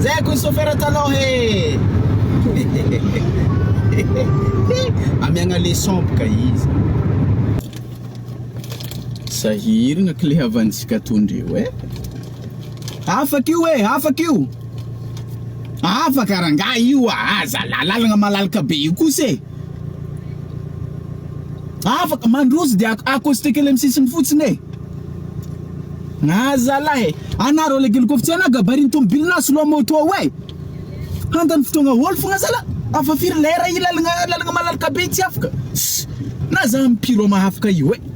Zay ko sofera taloha he Amiagna le son boka izy Sahiragna kle havantsika to ndreo eh Afaka io eh afaka io Afaka rangah io ah Aza lalalagna malalaka be io kosa eh. Afaka mandroso de accosté kely amin'ny sisiny fotsiny e! Ah zalah e! Anà rôle kely kôfa tsy anà gabarin'ny tômôbily na slow moto ao e! Handany fotoagna hôly fôgna zalah, afa firy lera i lalagna lalagna malalaka be tsy afaka? Ss! Na za am'pirô mahafaka io e!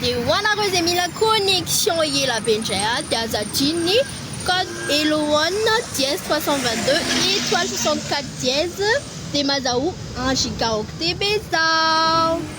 Dia ho anareo izay mila connexion ela be indray aho dia aza adino ny code hello one dièse trois cent vingt deux étoile soixante quatre dièse dia mazahoa un gigaoctet be zaho.